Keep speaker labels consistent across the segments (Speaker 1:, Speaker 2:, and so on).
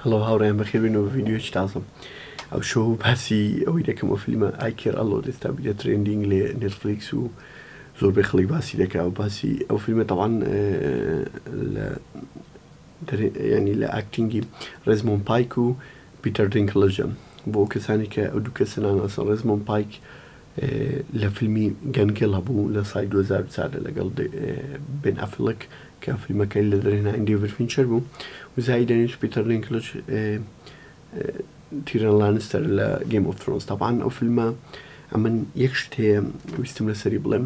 Speaker 1: هەڵۆ هاوڕێیان بەخێربێنەوە بە ڤیدیۆیەکی تازەم ئەوشۆ باسی ئەوەی دەکەم ئەو فیلمە ئای کێر ئەڵۆت ئێستا بوویتە ترێندینگ لێ نێتفلیکس و زۆربەی خەڵک باسی دەکا و باسی ئەو فیلمە تەوان لە ینی لە ئاکتینگی ڕێزمۆن پایک و پیتەر دینکلژە بۆ کەسانی کە ئەو دوو کەسە ناناسن ڕێزمۆن پایک لە فیلمی گەن گیڵ هەبوو لە ساڵی دوو هەزار و چوار دا لەگەڵ بێن ئەفڵک کە فیلمەکەی لە دەرهێنانی دەیڤد فینچەر بوو و زایدەن هیچ پیتەر دینکلج تیرن لانستەر لە گەیم ئۆف ثرۆنس تەبعەن ئەو فیلمە ئەمن یەک شت هەیە ویستم لەسەری بڵێم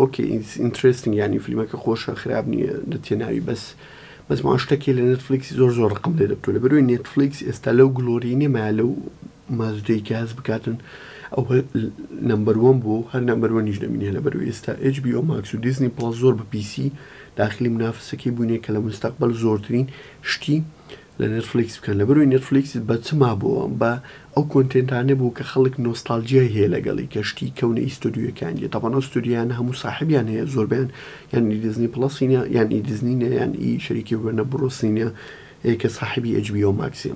Speaker 1: ئۆکەی ئیتس ئینترێستینگ یانی فلیمەکە خۆشە خراپ نییە لە تێناوی بەس بەس ماوە شتەکی لە نێتفلیکسی زۆر زۆر ڕقم لێ دەبتوو لە بەروی نێتفلیکس ئێستا لەو گلۆری نێمایە لەو مازودەی کە هەست بکاتن ئەو نمبەروەم بوو هەر نمبەروەنیش دەمینێ لە بەروی ئێستا HBO ماکس و دیزنی پڵەس زۆر بە پیسی داخلی منافسەکەی بووینە کە لە مستەقبەل زۆرترین شتی لە نێتفلیکس بکەن لەبەروی نێتفلیکس بە چ مابوەوە بە ئەو کۆنتێنتانە بوو کە خەڵک نۆستالجیای هەیە لەگەڵی کە شتی کەونە ئیستۆدیۆیەکان دیە تاوان ئەو ستۆدیانە هەموو ساحبیان هەیە زۆربیان یان ئی دیزنی پڵەسینە یان ئی دیزنینە یان ئی شەریکی وێنە بڕۆسینە ەیە کە ساحبی ئەجبیەوە ماکسیە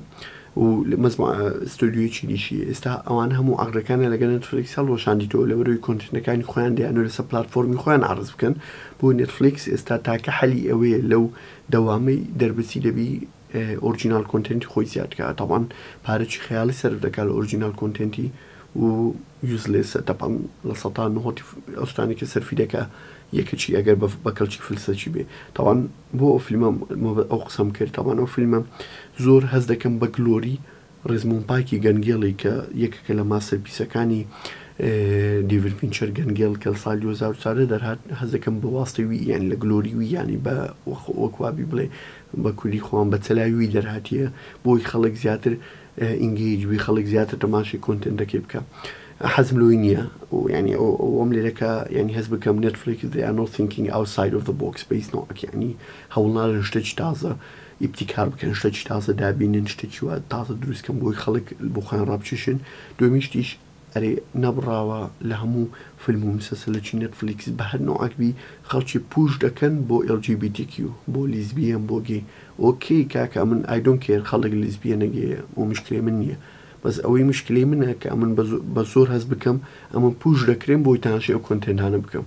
Speaker 1: و مەزما ستۆدیۆی چینیشی ئێستا ئەوان هەموو ئاغرەکانە لەگەل نێتفلیکس هەڵوەشاندیتەوە لەبەروی کۆنتێنەکانی خۆیان دەیانوێت لەسەر پلاتفۆرمی خۆیان عەرز بکەن بۆ نێتفلیکس ئێستا تاکە حەلی ئەوەیە لەو دەوامەی دەربچی دەبی ئۆرجیناڵ کۆنتێنتی خۆی زیاد کا تەبعەن پارەچی خەیاڵی سەرف دەکا لە ئۆرجیناڵ کۆنتێنتی و یوزلێسە تەبعەن لە سەتا نهۆتی ئەو شتانەی کە سەرفی دەکا یەکەچی ئەگەر بە کەڵکی فلسەچی بێ تەبعەن بۆ ئەو فیلمە ئەو قسەم کرد تەبعەن ئەو فیلمە زۆر هەست دەکەم بە گلۆری ڕێزمۆن پاکی گەنگێڵی کە یەکێکە لە ماستەرپیسەکانی دیڤید فینچەر گەنگێڵ کە لە ساڵی دوو هەزار و چواردە دەرهات حەز دەکەم بە واستەی وی یانی لە گلۆری وی یانی بە وەک وابی بڵێ بە کوردی خۆم بە چەلاوی وی دەرهاتیە بۆی خەڵک زیاتر ئینگیج بی خەڵک زیاتر تەماشەی کۆنتێنتەکەی بکە حەزم لۆی نییە و یعنی ئەو ئەوم لێرەکە یعنی هەز بکەم نێتفلێکس they are not thinking outside of the box بە هیچ نەوعێک یعنی هەوڵنادەن شتێکی تازە ئیبتیکار بکەن شتەکی تازە دابینن شتەکی وا تازە دروست کەن بۆی خەڵک بۆ خۆیان ڕابچیشن دوێمی شتیش ئەرێ نەبڕاوە لە هەموو فلم و مسەسەلەکی نێتفلیکس بە هەر نەوعەک بی خەڵکی پوش دەکەن بۆ ئێڵ جی بی تی کیو بۆ لیزبیەن بۆ گەی ئۆکەی کاکە ئەمن ئای دۆنت کێر خەڵک لیزبیەنە گەیە ئەو مشکلەی من نیە بەس ئەوەی مشکلەی منە کە ئەمن بە زۆر هەست بکەم ئەمن پوش دەکرێم بۆی تانشێ ئەو کۆنتێنتانە بکەم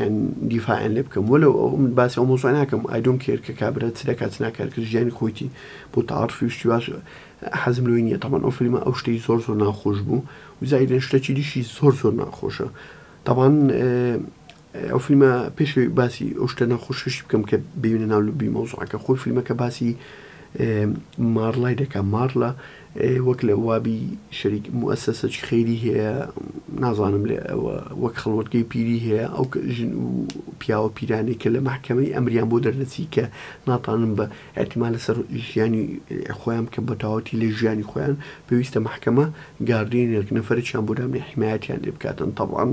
Speaker 1: یان دیفاعیان لێ بکەم وەلەو ئەو من باسی ئەو مەوزوعە ناکەم ئای دۆنت کێر کە کابرا چ دەکات چ ناکات کە ژیانی خۆیتی بۆ تەعاطفی و شتی واش حەزم لۆی نییە تەبەن ئەو فلیمە ئەو شتەی زۆر زۆر ناخۆش بوو و زایدن شتەکی دیشی زۆر زۆر ناخۆشە تەبان ئەو فلیمە پێش باسی ئەو شتە ناخۆشیشی بکەم کە ببینە ناو لبی مەوزوعەکە خۆی فلیمەکە باسی مارلای دەکە مارلە وەک لە وابی شەریک موئەسەسەکی خەیری هەیە نازانم لە ئەوە وەک خەڵوەتگەی پیری هەیە ئەو ژن و پیاوە پیرانی کە لە مەحکەمەی ئەمریان بۆ دەردەچی کە ناتانن بە ئەتما لەسەر ژیانی خۆیان کە بەتاوەتی لە ژیانی خۆیان پێویستە مەحکەمە گاردێنێک نەفەرێکیان بۆ دابنێ حیمایەتیان لێ بکاتن تەبعەن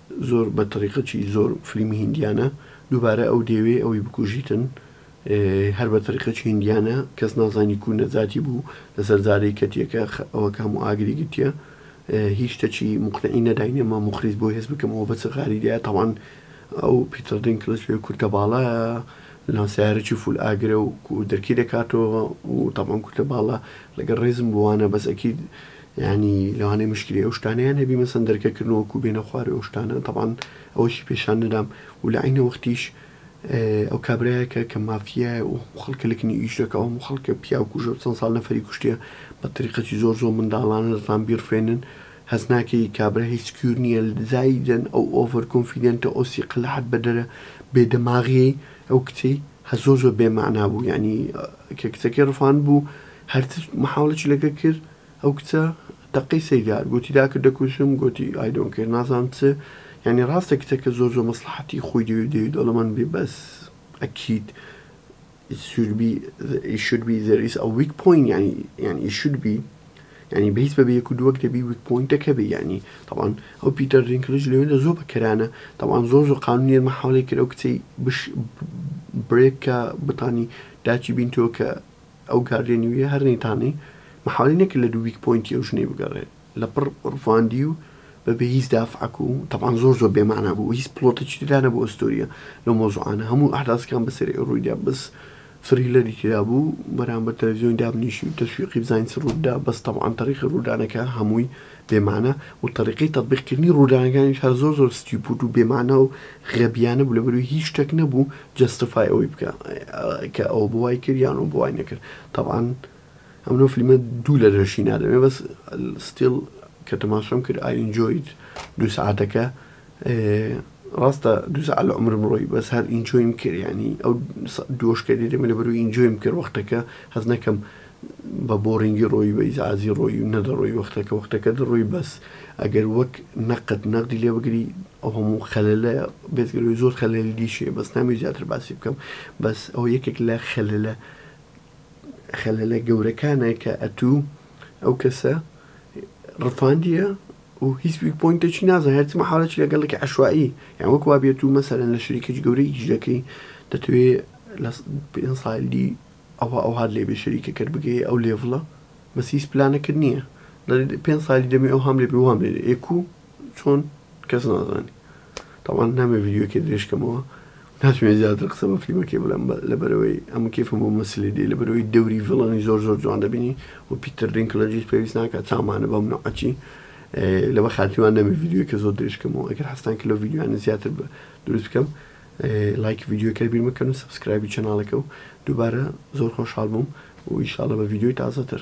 Speaker 1: زۆر بە تەڕیقەچی زۆر فلیمی هیندیانە دووبارە ئەو دێوێ ئەوی بکوژیتن هەر بە تەریقەچی هیندیانە کەس نازانی کو نەجاتی بوو لەسەر جارەی کەتیەکە ئەوە کام و ئاگری گرتیە هیچ تەچی مقنعی نەداینێ ما مخریج بۆ هێز بکەم ئەوە بەچ غاری دیا تاوان ئەو پیتەر دین کلچ پێ کورتە باڵە لانسیارەی فول ئاگرە و دەرکی دەکاتەوە و تاوان کورتە باڵە لەگەر ڕێزم بووانە بەس ئەکی یانی لەوانەیە مشکلی ئەو شتانەیان هەبی مەسەن دەرکە کردنەوە وەکو بێنە خوار و ئەو شتانە تەبان ئەوەشی پێشان نەدام و لە عینە وەختیش ئەو کابرایەکە کە مافیایە و خەڵکە لەکنی ئیش دەکە ئەو خەڵکە پیاو کوژە و چەند ساڵ نەفری کوشتە بە تریقەتی زۆر زۆر منداڵانە دەتان بیرفێنن هەز ناکەی کابرا هیچ سکیور نییە زایدن ئەو ئۆڤەر کۆنفیدنتە ئەو سیقە لە حەد بەدەرە بێدەماغیەی ئەو کچەی هە زۆر زۆر بێ مەعنا بوو یانی کە کچەکەی ڕفاند بوو هەرچ محاولەچی لەگە کرد ئەو کچە تەقەی سەیدار گۆتی داکە دەکوژم گۆتی ئایدۆن کەر نازان چ یعنی ڕاستە کچەکە زۆر زۆر مەسلحەتی خۆی دەوێ دەوێت دەوڵەمەند بێ بەس ئەکید it should be it should be there is a weak point یعنی یعنی it should be یانی بەیس بەبێ یەک و دووەک دەبی ویک پۆینتەکە بی یانی تەوان ئەو پیتەر دینکلج لەوێندە زۆر بە کەرانە تەوان زۆر زۆر قانونیە مە حاڵی کرد ئەو کچەی بش برێک کە بتانی داچی بین تۆ کە ئەو گاردێنی ویە هەر نەیتانی محاڵی نەکرد لە دوو ویک پۆینتی ئەو ژنەی بگەڕێت لە پڕ ڕفاندی و بەبێ هیچ دافعەک و تەوان زۆر زۆر بێمانا بوو هیچ پڵۆتەچی تدا نەبوو ئەستۆریە لە مۆزوعانە هەموو ئەحداسەکان بەسەری ڕوویدا بس فریلەری تێدا بوو بەرامبەر تەلەفزیۆنی دابنیشی و تەشویقی بزانین چ رووت دا بەس تەبعەن تەریقی روودانەکە هەمووی بێ مانا و تەریقەی تەتبیق کردنی روودانەکانیش هەر زۆر زۆر ستیوپوت و بێ مانا و غەبیانە بوو لەبەروی هیچ شتەک نەبوو جەستفای ئەوەی بکا کە ئەوە بوای کرد یان ئەوە بوای نەکرد تەبعەن ئەمنۆ فلیمە دوو لە لەشی نادەمێ بەس ستیل کە تەماشام کرد ئای ئینجۆیت دوو سەعاتەکە ڕاستە دوو سەعات لە عومرم ڕۆی بەس هەر ئینجۆیم کرد یانی ئەو دووەش کە دێمە لە بەروی ئینجۆیم کرد وەختەکە هەز نەکەم بە بۆڕینگی ڕۆی بە ئیزعازی ڕۆی و نەدەڕۆی وەختەکە وەختەکە دەڕۆی بەس ئەگەر وەک نەقەت نەقدی لێ بگری ئەو هەموو خەلەلە بێتگەلوی زۆر خەلەلی دیشێ بەس نامی زیاتر باسی بکەم بەس ئەو یەکێک لە خەلەلە خەلەلە گەورەکانە کە ئەتوو ئەو کەسە ڕفاندیە و هیچ ویک پۆینتێکی نازای هەرچی مەحاڵەکی لەگەڵێکی عەشوائی یان وەک وا بێت و مەسەلەن لە شەریکێکی گەورەی ئیش دەکەی دەتوێ لە س- پێنج ساڵی دی ئەوە ئەوهات لێ بێ شەریکەکەت بگەیە ئەو لێڤڵە بەس هیچ پلانەکەت نییە دەڵێ پێنج ساڵی دەمێ ئەوهام لێ بێ وام لێ دێ ئێ کوو چۆن کەس نازانێ تەبعەن نامەوێ ڤیدیۆکێ درێژ کەمەوە و ناتوێ زیاتر قسە بە فلیمەکێ بڵێم بە لەبەرئەوەی ئەمن کەیفم بۆ مەسلێ دێ لەبەرئەوەی دەوری ڤیڵەنی زۆر زۆر جوان دەبینی و پیتر دینکلەجیش پێویست ناکا چاومانە بەم نەوعەچی لەبە خاتری وان نەمێ ڤیدیۆکێ زۆر درێژ کەمەوە ئەگەر حەزتان کە لەو ڤیدیۆیانە زیاتر بە دروست بکەم لایکی ڤیدیۆکەر بیر مەکەن و سەبسکرایبی چەناڵەکە و دووبارە زۆر خۆشحاڵ بووم و ئیشاڵە بە ڤیدیۆی تازەتر.